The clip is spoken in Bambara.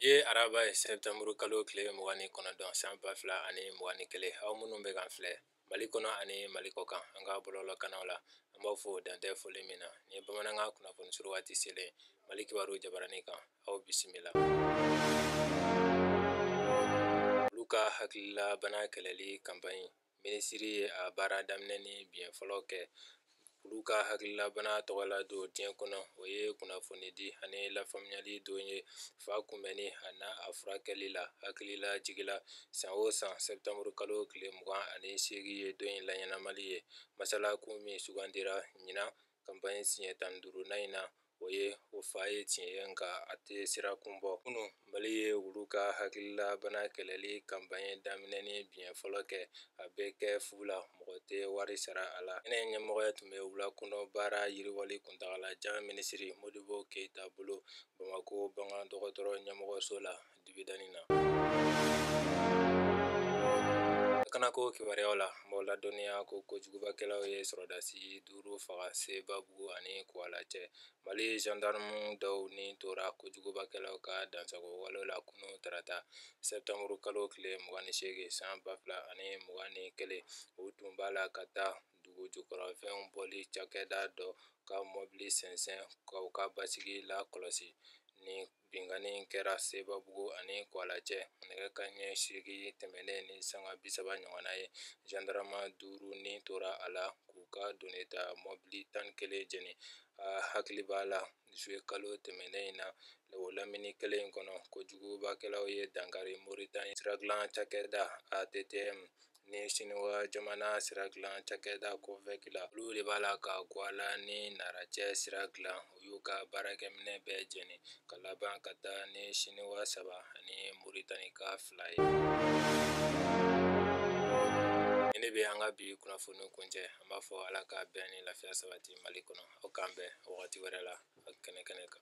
ye araba ye sɛptanburu kalo tile mugan ni kɔnɔntɔn san ba fila ani mugan ni kelen aw minnu bɛ k'an filɛ mali kɔnɔ ani mali kɔkan an ka bɔlɔlɔkannaw la an b'aw fo dan tɛ foli min na ni bamanankan kunnafoni surun waati selen mali kibaru jabaranin kan aw bisimila wulu ka hakililabana kɛlɛli kanpaɲi minisiri ye a baara daminɛni biɲɛ fɔlɔ kɛ wulu ka hakililabana tɔgɔ la don diɲɛ kɔnɔ o ye kunnafonidi ani lafaamuyali don ye fa kunbɛnni an'a furakɛli la hakililajigi la san o san sɛptanburu kalo tile mugan ani seegin ye don in laɲɛnamali ye masalakun min sugandira ɲinan kanpaɲi siɲɛ tan ni duurunan in na O ye ko fa ye tiɲɛ ye nka a tɛ siran kun bɔ kunun mali ye wulu ka hakililabana kɛlɛli kanpaɲi daminɛni biɲɛ fɔlɔ kɛ a bɛ kɛ fu la mɔgɔ tɛ wari sara a la kɛnɛ ɲɛmɔgɔya tun bɛ wula kɔnɔ baara yiriwali kuntaalajan minisiri modibo keyita bolo bamakɔ bagan dɔgɔtɔrɔ ɲɛmɔgɔso la dibidanin lakanako kibaruyaw la n b'aw ladɔnniya ko kojugubakɛlaw ye sɔrɔdasi duuru faga sebabugu ani kuwala cɛ mali jandarama dɔw ni tora kojugubakɛlaw ka dansagon wale la kunu tarata sɛptanburu kalo tile mugan ni seegin san ba fila ani mugan ni kelen u tun b'a la ka taa dugu jukɔrɔfɛnw bɔli cakɛda dɔ ka mɔbili sɛnsɛn ka u ka basigi lakɔlɔsi ni binkanni kɛra sebabugu ani kuwala cɛ nɛgɛ kanɲɛ seegin tɛmɛnen ni sanga bi saba ɲɔgɔnna ye jandarama duuru ni tora a la k'u ka donita mɔbili tan ni kelen jeni a hakili b'a la zuye kalo tɛmɛnen in na o lamini kelen kɔnɔ kojugubakɛlaw ye dankari moritani sira dilan cakɛda ATTM Ni Siniwa jamana sira dilan cakɛda COVEC la olu de b'a la ka Kuwala ni nara cɛ sira dilan u y'u ka baarakɛminɛn bɛɛ jeni ka laban ka taa ni Siniwa saba ani Moritanika fila ye. Nin de bɛ an ka bi kunnafoni kuncɛ an b'a fɔ Ala ka bɛn ni lafiya sabati Mali kɔnɔ aw k'an bɛn wagati wɛrɛ la kɛnɛ kɛnɛ kan.